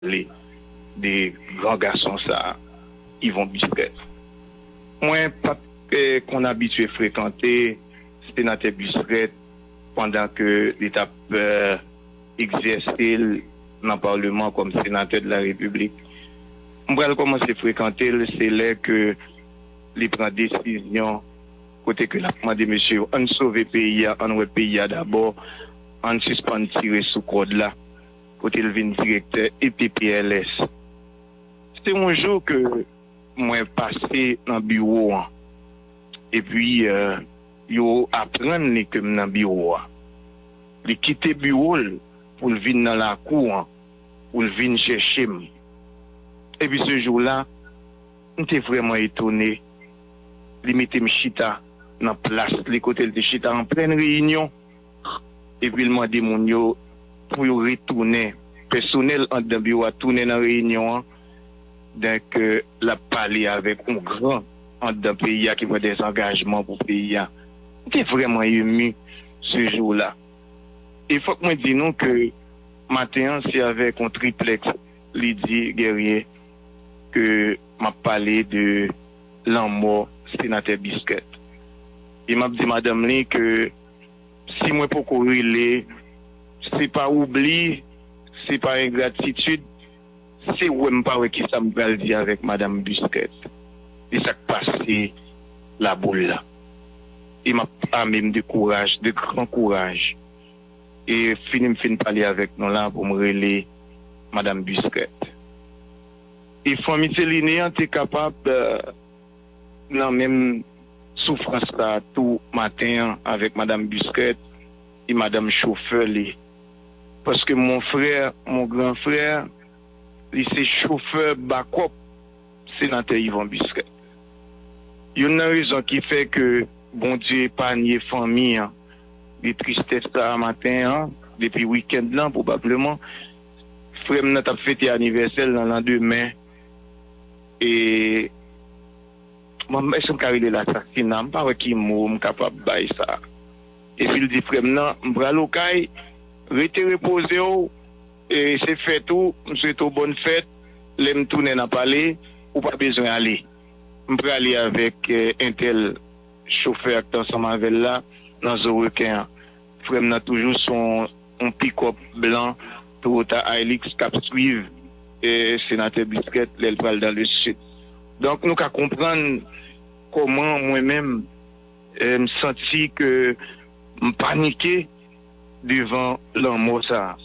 Pale de gran gason sa Yvon Bisrès mwen pat konn abitye frekante senatè Bisrès pandan ke li tap egzèse l nan parleman kòm senatè de la repiblik m pral kòmanse frekante l se lè ke li pran desizyon kote ke lap mande mesye yo ann sove peyi a ann wè peyi a dabò ann sispann tire sou kòd la. kote l vin direktè EPPLS. Se yon jou ke mwen pase nan biwo an, epi yo aprann li ke m nan biwo a. Li kite biwo l pou l vin nan lakou an pou l vin chèche m. Epi se jou la, m te vrèman etone, li mete m chita nan plas li kote l te chita an plen reyinyon. epi l mande moun yo pou yo retounen, pèsonèl anndan biwo a tounen nan reyinyon an, donk l ap pale avèk yon gran anndan peyi a ki pran dezangajman pou peyi a. M te vrèman emu se jou la. E fòk mwen di nou ke maten an se avèk yon triplèks lidi gèrye ke m ap pale de lanmò Senatè Biscuit. E m ap di madanm li ke. si mwen poko rele se pa oubli se pa engratitid se wè m pa wè kisa m pral di avèk madam Busquets de sa k pase Laboul la e m ap ame m de kouraj de gran kouraj e fini m fin pale avèk nou la pou m rele madam Busquets e fanmi Celine an te kapab. Nan menm soufrans la tou maten an avèk madam Busquet e madanm chofè li. Paske mon frère, mon grand frère, li se chofè bakòp senatè Yvon Busquet. Youn nan rezon ki fè ke Bondye epanye fanmi an de tristès sa a maten an, depi week-end lan pwobableman, frè m nan t ap fete anivèsè l nan landemen. E mwen èske m ka rele l asasina? M pa wè ki mo m kapab bay sa. Epi l di frè m nan, M pral o kay, rete repoze w, e se fèt ou, m swete w bòn fèt, lè m tounen n a pale, ou pa bezwen ale. M prale avèk entèl chofè a k t ansanm avè l la nan zo reken an. Frèm nan toujou son on pikòp blan Toyota Hilux kap swiv Senatè Busquet lèl pral dan le sud. Donk nou ka konprann kòman mwen menm m santi ke m panike devan lanmò sa.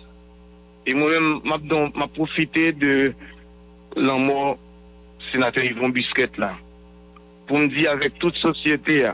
E mwen menm map don map pwofite de lanmò Senatè Yvon Busquet la poum di avèk tout sosyete a.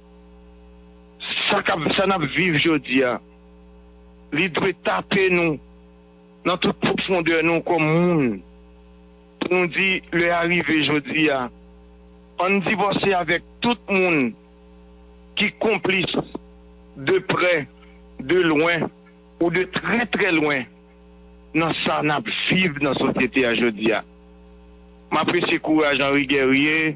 Sa k ap, sa n ap viv jodi a, li dwe tape nou nan tout pwofondè nou kòm moun pou nou di lè a rive jodi a. An n divòse avèk tout moun ki konplis de prè, de lwen ou de trè trè lwen nan sa n ap viv nan sosyete a jodi a. M apresye kouraj Henri Guerrier.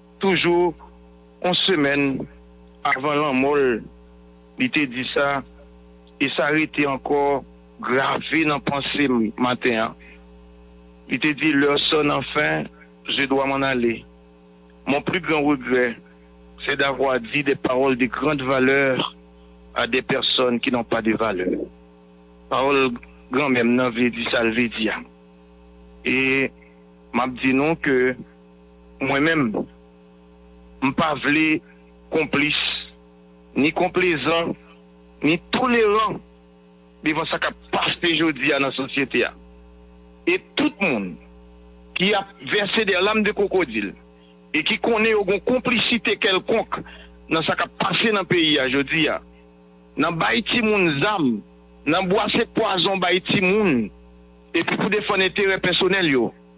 Toujou on semèn avan lanmò l, li te di sa, e sa rete ankò grave nan panse m maten an. Li te di, Lè sòn anfen, je dwa m'en aller. Mon plus grand regret, c'est d'avoir dit des paroles de grande valeur à des personnes qui n'ont pas de valeur. Pawòl granmè m nan vle di sa l vle di a. E m ap di nou ke. Mwen menm, m pa vle konplis, ni konplezan, ni toleran devan sa k ap pase jodi a nan sosyete a. E tout moun ki ap vèse dè lam de kwokodil e ki konnen yo gon konplisite kèlkonk nan sa k ap pase nan peyi a jodi a, nan bay timoun zam, nan bwase pwazon bay timoun epi pou defann enterè pèsonèl yo,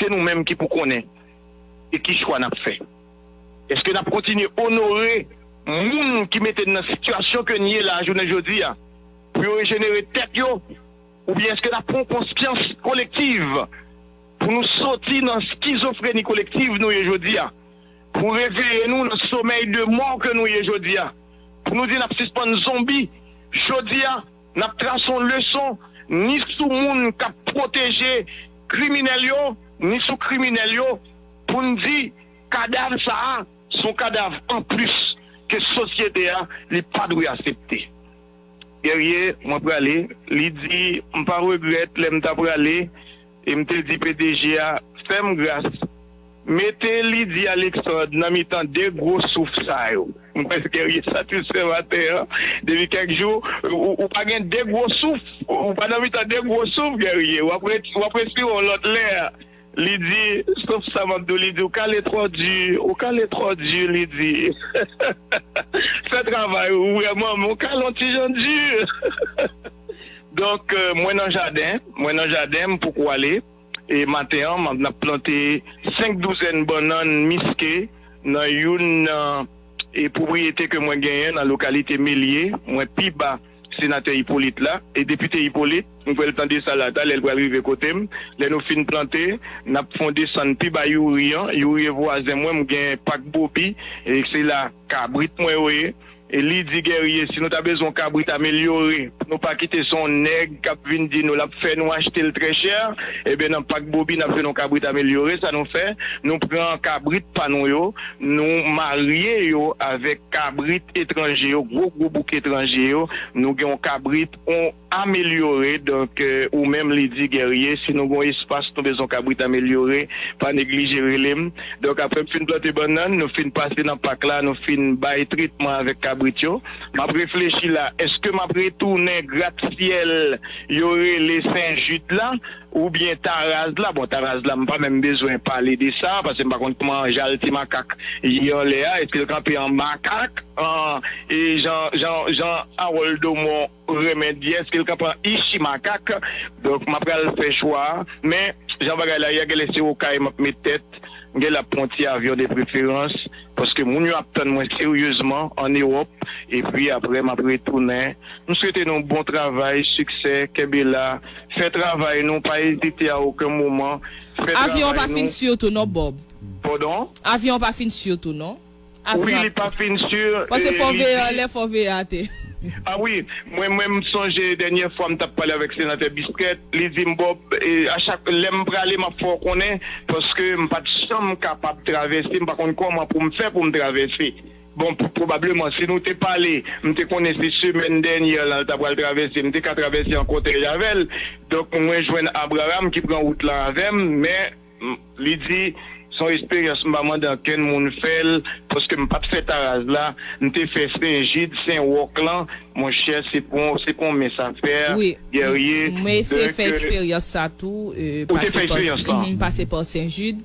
Se nou menm ki pou konnen e ki chwa n ap fè. Eske n ap kontinye onore moun ki mete n nan sitiyasyon ke n ye la jounen jodi a pou yo rejenere tèt yo oubyen eske n ap pran yon konsyans kolektiv pou nou soti nan skizofreni kolektiv nou ye jodi a, pou reveye nou nan somèy de mò ke nou ye jodi a, pou nou di n ap sispann zonbi jodi a? N ap trase yon leson ni sou moun k ap pwoteje kriminèl yo, ni sou kriminèl yo, pou n di kadav sa a se yon kadav anplis ke sosyete a li pa dwe asepte. Guerrier, mwen prale, li di, m pa regrèt lè m ta prale. E m te di pdg a, Fè m gras, mete Lydie Alexandre nan mitan de gwo souf sa yo. M kwè se Guerrier satisfè maten an, depi kèk jou ou pa gen de gwo souf, ou pa nan mitan de gwo souf Guerrier, w ap respire yon lòt lè. Li di, Sof sa m ap di w, li di, ou kale twò di, ou kale twò di, li di, fè travay ou, vrèman men w kale yon ti jan di. Donk mwen nan jaden, mwen nan jaden m poko ale e maten an map nap plante 5 douzèn bannann miske nan youn nan e pwopriyete ke mwen genyen nan lokalite Melye mwen pi ba senatè Hyppolite la e depite Hyppolite m kwè l pran de sa la talè l pral rive kote m lè nou fin plante nap fon desann pi ba youri an youri e vwazen mwen m gen pak bobi e se la kabrit mwen yo ye. E li di Guerrier si nou ta bezwen yon kabrit amelyore pou nou pa kite se yon nèg kap vin di nou lap fè nou achte l trè chè, ebyen nan Pak Bobi nap jwenn yon kabrit amelyore, sa nou fè nou pran kabrit pa nou yo nou marye yo avèk kabrit etranje yo gwo gwo bouk etranje yo nou gen yon kabrit yon Amelyore, donk ou menm li di Guerrier, si nou gon espas nou bezon kabrit amelyore, pa neglije rele m. Donk apre m fin plante bannann, nou fin pase nan pak la, nou fin bay tretman avèk kabrit yo, m ap reflechi la, èske m ap retounen gratsyèl yo rele Sen Jid la oubyen Taraz la? Bon, Taraz la m pa menm bezwen pale de sa, pase m pa konn kman jal ti makak ye anlè a, èske l kanpe an makak, an e jan, jan, jan Harold Domon. Remedy eske l ka pran ishi makak donk ma pral fè chwa men jan bagay la ye a genlè se okay map met tèt m genlè ap pran yon ti avyon de preferans paske moun yo ap tann mwen seryezman an ewòp epi aprè map retounen m swete nou bon travay siksè kenbe la fè travay nou pa ezite a oken moman fè Avyon an pa travay fin nou. sur tou non Bob. Pardon? Avyon an pa fin sur tou non. a frap. Wi li pa fin sur Pase e fò li veye di. anlè fò veye ate. A wi mwen mwen m sonje denyè fwa m tap pale avek senatè Bisquet li dim Bob a chak lem prale map fè w konnen paske m pat janm kapab travèse m pa konn koman pou m fè pou m travèse bon pwobableman si nou te pale m te konnen se semèn denyè lan l ta pral travèse m te ka travèse an kotèy avèl donk mwen jwenn Abraham ki pran wout lan avèm men Li di, Se yon esperyans m pa mande ankenn moun fè l, paske m pa t fè Taraz la, m te fè Sen Jid, Sen Wòk lan. Monchè, se pou w on mens a fè, Gèrye, dè ke. Ou te fè esperyans lan? M pase pa Sen Jid.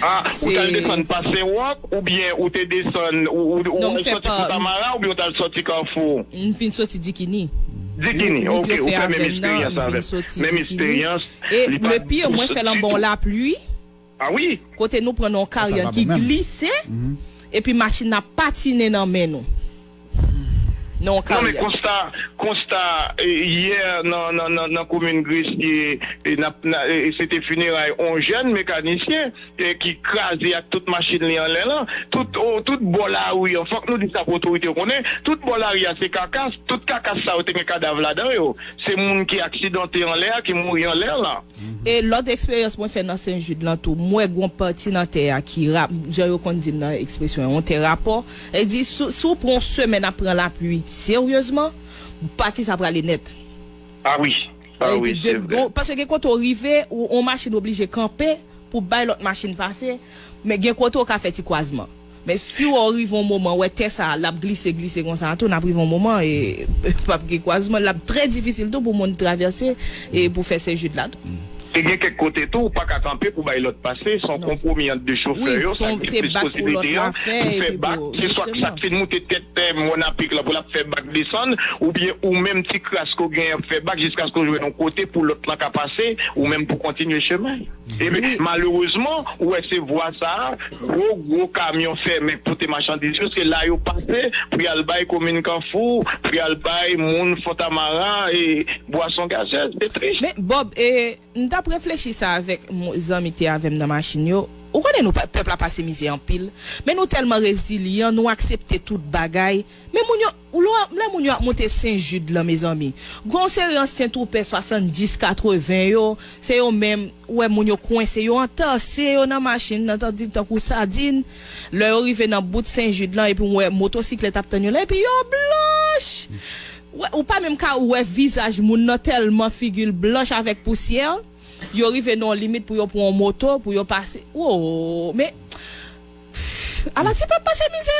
A, ou t al desann pa Sen Wòk, oubyen ou te desann, ou t al soti Fontamara oubyen ou t al soti Kafou? M vin soti Dikini. Dikini, ok, ou fè menm esperyans avè m. Menm esperyans. E le pire mwen fèl anba yon lapluie kote nou pran nan yon karyàn ki glise epi machin nan ap patine nan men nou nan yon karyàn. Non men konsta konsta yè nan komin Gresye se te fineray yon jèn mekanisyen. ki kraze ak tout machin li anlè lan, tout tout bò lari an, fòk nou di sa pou otorite yo konnen, tout bò lari a se kakas, tout kakas sa yo te gen kadav ladan yo, se moun ki aksidante anlè a, ki mouri anlè lan. E lòt eksperyans mwen fè nan Sen Jid lan tou, m wè gon pati nan tè a ki ra, jan yo konn di m nan ekspresyon yon tè rapò, sa vle di si w pran yon semèn ap pran lapli seryezman, pati sa prale nèt. A wi. Lè li di de m, paske gen kote ou rive, yon machin oblije kanpe pou bay lòt machin pase, men gen kote ou ka fè ti kwazman. Men si wè ou rive yon moman, wè tè sa a, l ap glise, glise konsa a tou, n ap rive yon moman, p ap gen kwazman, l ap trè difisil tou pou moun travèse e pou fè Senjid la tou. E gen kèk kote tou, ou pa ka kanpe pou bay lòt pase, se yon konpwomi ant de chofè yo, sa ki plis posiblite a, pou fè bak. Se swat sa k fin moute tèt mòn a pik lan pou l ap fè bak desann, oubyen ou menm ti kras ke w genyen ap fè bak jiskaske w jwenn yon kote pou lòt lan ka pase, ou menm pou kontinye chemen. Epi, malerezman, ou wè se vwa sa a, gwo gwo kamyon fèmen k pote machandiz yo, se la yo pase pou y al bay komin Kanfou, pou y al bay moun Fontamara e bwason gazez. Se tris. Men, Bòb, e m t ap reflechi sa avèk zanmi te avè m nan machin yo. Ou konnen nou pèp la pase mizè anpil men nou tèlman rezilyan nou aksepte tout bagay men moun yo lè moun yo ap moute sen jid lan mezanmi gen yon seri ansyen twoupè 70 80 yo se yo menm ou wè moun yo kwense yo antase yo nan machin nan tankou sadin lè yo rive nan bout sen jid lan epi ou wè motosiklèt ap tann yo la epi yo blanch ou pa menm ka wè vizaj moun nan tèlman figil blanch avèk pousyè. Yo rive nan yon limit pou yo pran yon moto pou yo pase woo me pff ala ti pèp pase mizè.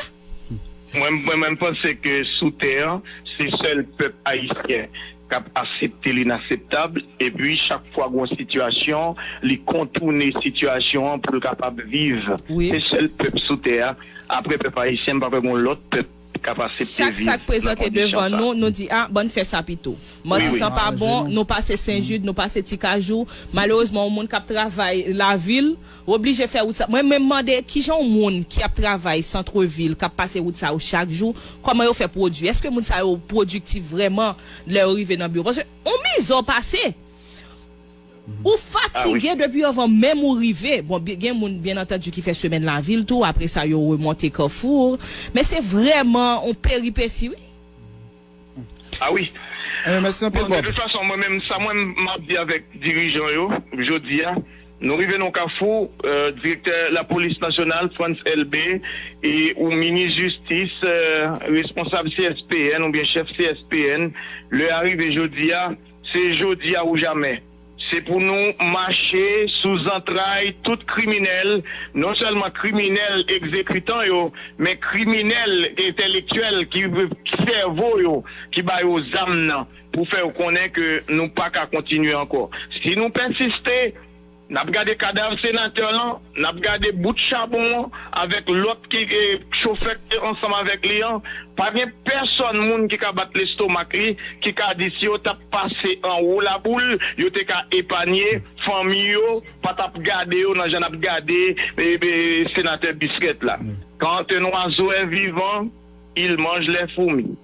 Mwen menm panse ke sou tè an se sèl pèp ayisyen kap asepte l'inacceptab epi chak fwa gon sitiyasyon li kontoune sitiyasyon an poul kapab viv se sèl pèp sou tè a aprè pèp ayisyen mpa kwè gon lòt pèp Chak sa k prezante devan nou, nou di a, bann fè sa pito. Matisan pa bon, nou pase Senjid, nou pase Tikajou. Malerezman yon moun k ap travay lavil, ou oblije fè wout sa. Mwen menm mande, kijan yon moun ki ap travay santrevil, k ap pase wout sa yo chak jou, kòman yo fè pwodui? Èske moun sa yo pwodiktif vrèman lè yo rive nan biwo? Paske yon mizò pase. Ou fatige depi avan menm ou rive. Bon, gen moun, byen antandu, ki fè semèn lavil tou, apre sa yo remonte Carrefour. Men se vrèman yon peripesi wi. A wi. Enben, mèsi anpil Bob. Bon, de tout fason, mwen menm, sa mwen m ap di avèk dirijan yo, jodi a, nou rive nan yon kafou, direktè lapolis nasyonal, Frantz Elbé, e ou minis jistis, responsab CSPN oubyen chèf CSPN, lè a rive jodi a, Se jodi a ou jamè. Se pou nou mache sou zantray tout kriminèl, non sèlman kriminèl egzekitan yo, men kriminèl entèlektyèl ki sèvo yo ki ba yo zam nan pou fè yo konnen ke nou pa ka kontinye ankò. Si nou pèsiste. N ap gade kadav senatè lan, n ap gade bout chabon an avèk lòt ki chofè k te ansanm avèk li an. Pa gen pèsòn moun ki ka bat lestomak li, ki ka di si yo t ap pase anwo laboul, yo te ka epanye, fanmi yo pa t ap gade yo nan jan n ap gade senatè Bisrèt la. Kan te nwazoè vivan, il mange les fourmis.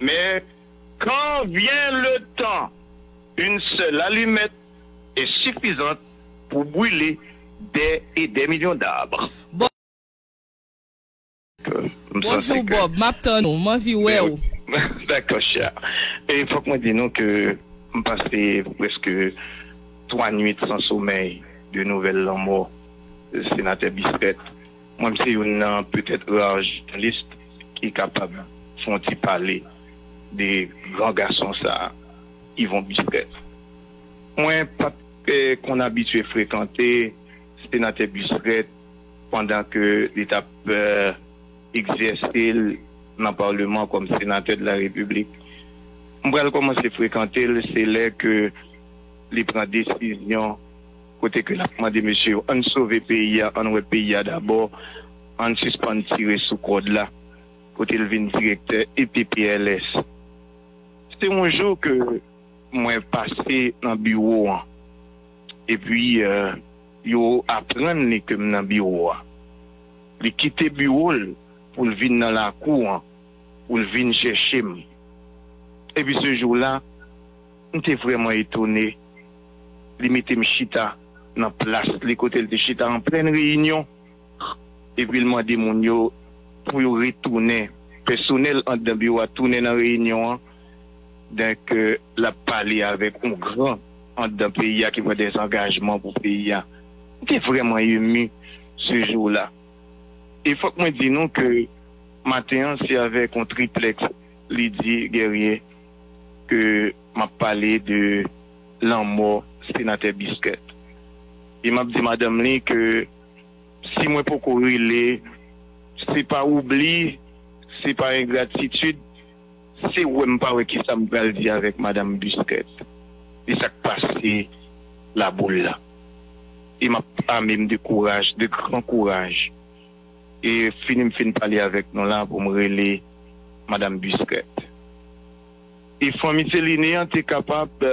Men, kan vyen le tan, yn sèl alimèt e sifizant pou brile dè e dè milyon d'arbre. Bonjou Bob, map tann ou, m anvi wè ou. Dakò chè. E fòk mwen di nou ke m pase prèske 3 nwit san somèy de nouvèl lanmò Senatè Bissaire. Mwen m se youn nan petèt ra jounalis ki kapab fè yon ti pale de gran gason sa a, Yvon Bustrèf. Mwen pa t konn abitye frekante senatè Bustrèf pandan ke li t ap egzèse l nan Paleman kòm senatè de la Repiblik. M pral kòmanse frekante l se lè ke li pran desizyon. Kote ke lap mande mesye yo ann sove peyi a, ann wè peyi a dabò, ann sispann tire sou kòd la, kote l vin direktè EPPLS. Se yon jou ke mwen pase nan biwo an, epi yo aprann li ke m nan biwo a. Li kite biwo l pou l vin nan lakou an, pou l vin chèche m. Epi se jou la. M te vrèman etone. Li mete m chita nan plas li kote l te chita an plen reyinyon epi l mande moun yo pou yo retounen. Pèsonèl anndan biwo a tounen nan reyinyon an donk l ap pale avèk yon gran anndan peyi a ki pran dezangajman pou peyi a. M te vrèman emu se jou la. E fòk mwen di nou ke maten an se avèk yon triplèks li di Guerrier. ke m ap pale de lanmò Senatè Biscuit. E m ap di madanm li ke si mwen poko rele, se pa oubli, se pa engratitid, se wè m pa wè kisa m pral di avèk Madam Biscuit de sa k pase Laboul la. E m ap ame m de kouraj, de gran kouraj. E fini m fin pale avèk nou la pou m rele Madam Busquet. E fanmi Céline an te kapab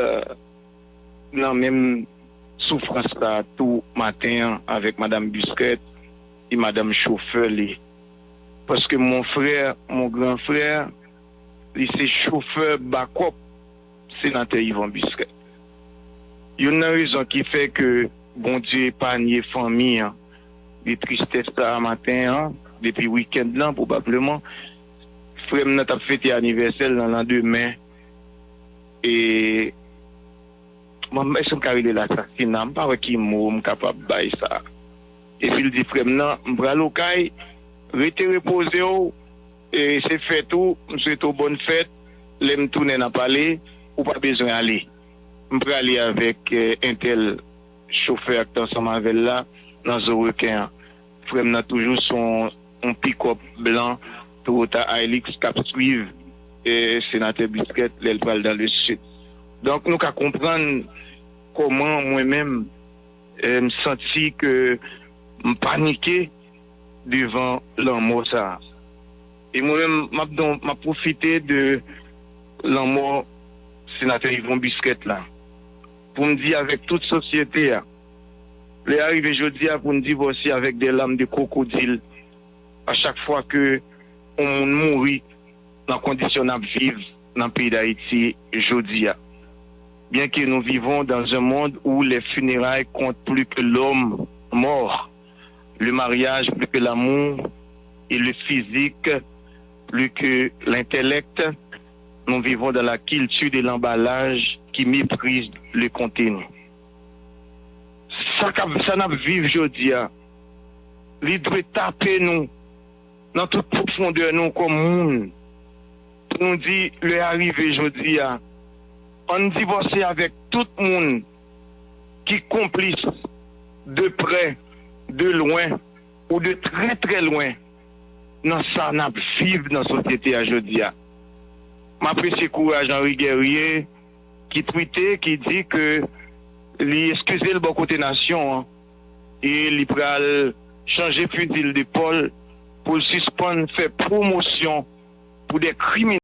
nan menm soufrans la tou maten an avèk Madam Busquet e Madam chofè li. Paske mon frère, mon grand frère, li se chofè bakòp. Senatè Yvon Bustrèt, Youn nan rezon ki fè ke Bondye epanye fanmi an de tristès sa a maten an, depi wikend lan pwobableman, frè m nan t ap fete anivèsè l nan landemen e, mwen èske m ka rele l asasina? M pa wè ki mo m kapab bay sa. Epi l di frè m nan, M pral okay, rete repoze w. Se fèt ou, m swete w bòn fèt, lè m tounen n a pale, ou pa bezwen ale. M prale avèk entèl, chofè a k t ansanm avè l la, nan zo reken an. Frè m nan toujou sou yon pikòp blan Toyota Hilux k ap swiv Senatè Brisket lè l pral dan le Sid. Donk nou ka konprann kòman mwen menm m santi ke m panike. devan lanmò sa a. E mwen menm m ap don, m ap pwofite de lanmò Senatè Yvon Busquet la pou m di avèk tout sosyete a, lè a rive jodi a pou n divòse avèk de lam de kwokodil a chak fwa ke yon moun mouri nan kondisyon n ap viv nan peyi Dayiti jodi a. Byenke nou vivons dans un monde où les funérailles comptent plus que l'homme mort, Le mariage plus que l'amour et le physique plus que l'intellect nous vivons dans la culture de l'emballage qui méprise le contenu sa nap viv jodia li dwe tape nou nan tout profondeur nou kòm moun pou nou di lè a rive jodia ann divòse avèk tout moun ki konplis de prè, de lwen ou de trè trè lwen nan sa n ap viv nan sosyete a jodi a. M apresye kouraj Henri Guerrier ki twite, ki di ke li eskize l bò kote nasyon an e li pral chanje fizi l depòl pou l sispann fè pwomosyon pou de kriminèl.